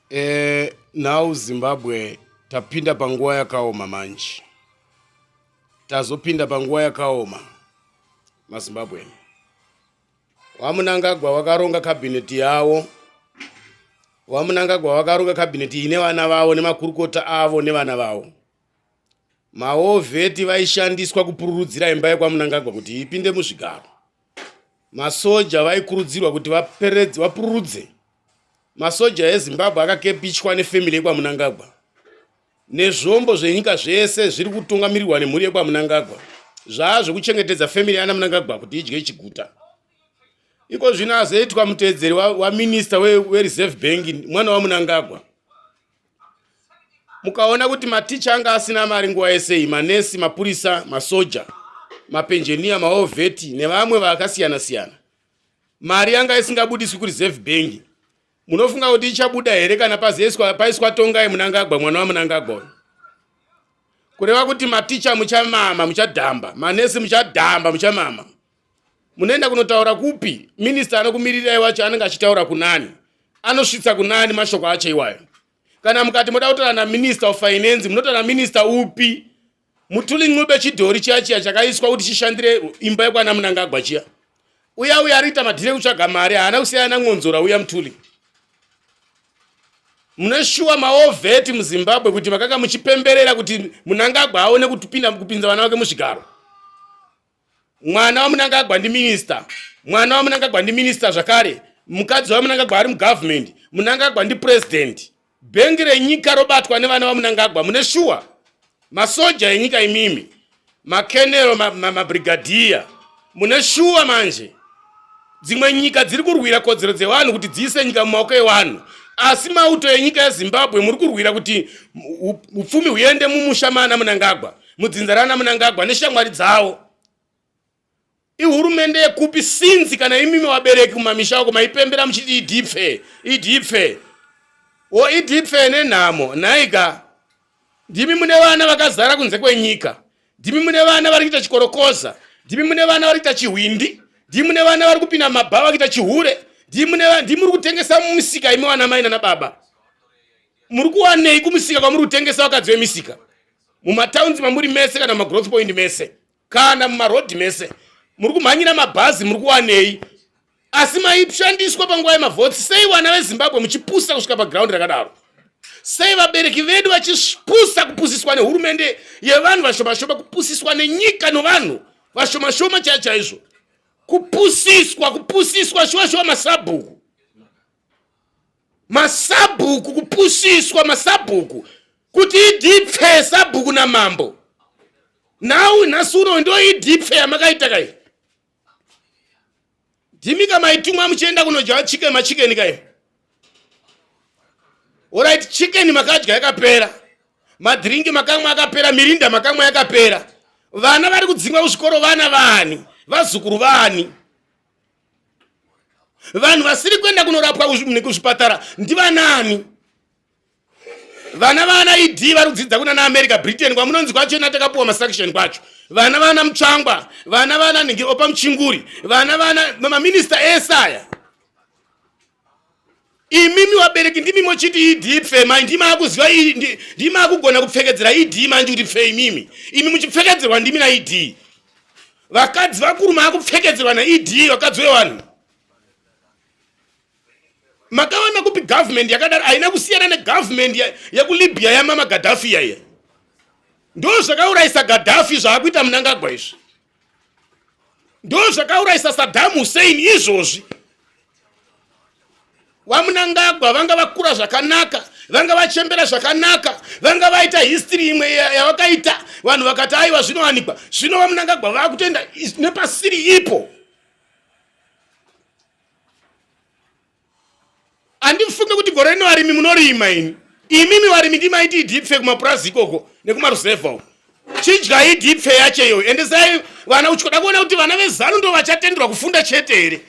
Eh, now Zimbabwe tapinda panguva yakaoma manje. Tazopinda panguva yakaoma maZimbabwe. Wamunangagwa wakaronga cabinet yawo. Wamunangagwa wakaronga cabinet ine vana vawo nemakurukota avo nevana vawo. Maovheti vaishandiswa kupururudzira imba yekwamunangagwa kuti ipinde muzvigaro. masoja vaikurudzirwa kuti vaperedze vapururudze masoja ezimbabwe akakepichwa nefemili yekwamunangagwa nezvombo zvenyika zvese zviri kutungamirirwa nemhuri yekwamunangagwa zvaa zvekuchengetedza femili yana munangagwa kuti idye chiguta iko zvino azoitwa mutevedzeri waminista wereserve bank mwana wamunangagwa mukaona kuti maticha anga asina mari nguva yesei manesi mapurisa masoja mapenjeniya maovheti nevamwe vakasiyana siyana mari yanga isingabudiswi kureserve bank munofunga kuti ichabuda here kana pazieswa paiswa tongai munangagwa mwana wamunangagwa uyu kureva kuti maticha muchamama muchadhamba manesi muchadhamba muchamama munoenda kunotaura kupi minista anokumirirai wacho anenge achitaura kunani anosvitsa kunani mashoko acho iwayo kana mukati moda kutaura naminista of finance munotaura naminista upi mutuli ncube chidhori chiya chiya chakaiswa kuti chishandire imba yekwana munangagwa chiya uya uya ariita madhire kutsvaga mari haana kusiyana namwonzora uya mutuli munoshuwa maovheti muzimbabwe kuti makanga muchipemberera kuti munangagwa aone kupinza vana vake muzvigaro mwana wamunangagwa ndi minister mwana wamunangagwa ndi minister zvakare mukadzi wamunangagwa ari mugovernment munangagwa ndi president bhengi renyika robatwa nevana vamunangagwa mune shuwa masoja enyika imimi makenero mabrigadiya ma, ma mune shuwa manje dzimwe nyika dziri kurwira kodzero dzevanhu kuti dziise nyika mumaoko evanhu asi mauto enyika yezimbabwe muri kurwira kuti upfumi huende mumusha maana munangagwa mudzinza raana munangagwa neshamwari dzavo ihurumende yekupi sinzi kana imimi wabereki mumamisha ako maipembera muchiti idipfe idipfe o idipfe nenhamo nhaika Ndimi mune vana vakazara kunze kwenyika. Ndimi mune vana vari kuita chikorokoza. Ndimi mune vana vari kuita chihwindi. Ndimi mune vana vari kupinda mabhava kuita chihure. Ndimi mune vana ndimi muri kutengesa mumusika imi vana mai nana baba. Muri kuwanei kumusika kwamuri kutengesa vakadzi vemisika? Mumataunzi mamuri mese kana mumagrouth point mese. kana mumarodhi mese muri kumhanyira mabhazi muri kuwanei asi maishandiswa panguva yemavhotsi sei vana vezimbabwe muchipusa kusvika pagraundi rakadaro sei vabereki vedu vachipusa kupusiswa nehurumende yevanhu vashomashoma kupusiswa nenyika novanhu vashomashoma chaichaizvo kupusiswa kupusiswa shuwa shuwa masabhuku masabhuku kupusiswa masabhuku kuti idipfe sabhuku namambo nhau nhasi uno ndo idipfe yamakaita kai ndimika maitumwa muchienda kunodya chicken machikeni kai orit chicken makadya yakapera madhiringi makamwa akapera mirinda makamwa yakapera vana vari kudzingwa kuzvikoro vana vani vazukuru vani vanhu vasiri kuenda kunorapwa kuzvipatara ndivanaani vana vana ed vari kudzidza kuna naamerica britain kwamunonzi kwacho ina takapuwa masaction kwacho vana vana mutsvangwa vana vana nhingi opa muchinguri vana vana maminista ese aya imimi vabereki ndimi mochiti idi pfe mai ndimi akuziva ndimi akugona kupfekedzera idi manje kuti pfe imimi imi muchipfekedzerwa ndimi naidi vakadzi vakuru maakupfekedzerwa naidi vakadzi vevanhu makaona kupi government yakadaro haina kusiyana negovernment yekulibya yamama gadhafi yaiya ndo zvakaurayisa gadhafi zvaakuita munangagwa izvi ndo zvakaurayisa sadam hussein izvozvi vamunangagwa vanga vakura zvakanaka vanga vachembera zvakanaka vanga vaita history imwe yavakaita vanhu vakati aiwa zvinowanikwa zvino vamunangagwa vakutoenda nepasiri ipo handifunge kuti gore rino varimi munorima ini imimi varimi ndimaiti idipfe kumapurazi ikoko nekumaruzevha uko chidyai idipfe yacho iyoyo ende sai vana uchikoda kuona kuti vana vezanu ndo vachatenderwa kufunda chete here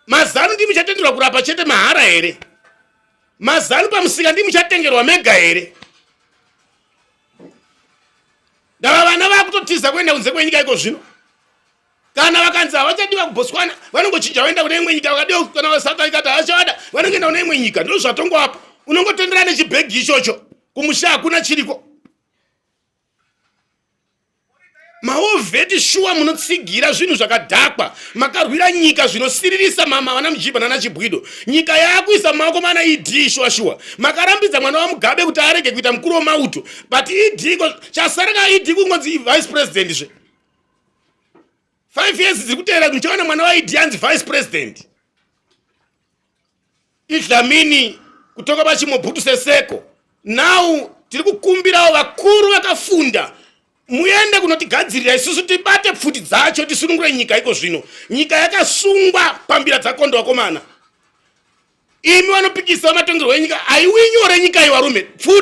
mazanu ndimi chatenderwa kurapa chete mahara here mazanu pamusika ndimi chatengerwa mega here ndava vana vakutotiza kuenda kunze kwenyika iko zvino kana vakanzi havachadiwa kubotswana vanongochinja vaenda kune imwe nyika vakadiwa kana vasouth africa ti havachavada vanongoenda kune imwe nyika ndino zvatongoapa unongotenderana nechibhegi ichocho kumusha hakuna chiriko maovheti shuwa munotsigira zvinhu zvakadhakwa makarwira nyika zvinosiririsa mama vana mujibha nana chibwido nyika yaakuisa maoko mana ed shuwa shuwa makarambidza mwana wamugabe kuti arege kuita mukuru wemauto but ed chasaraka ed kungonzi vice president zve five years dziri kuteera ndichaona mwana waidi yanzi vice president idlamini kutoka pachimobhutu seseko now tiri kukumbirawo vakuru vakafunda muende kunotigadzirira isusu tibate pfuti dzacho tisunungure nyika iko zvino nyika yakasungwa pambira dzakondo vakomana imi vanopikisa vamatongerwo enyika aiwinyore nyika iwarume pfuti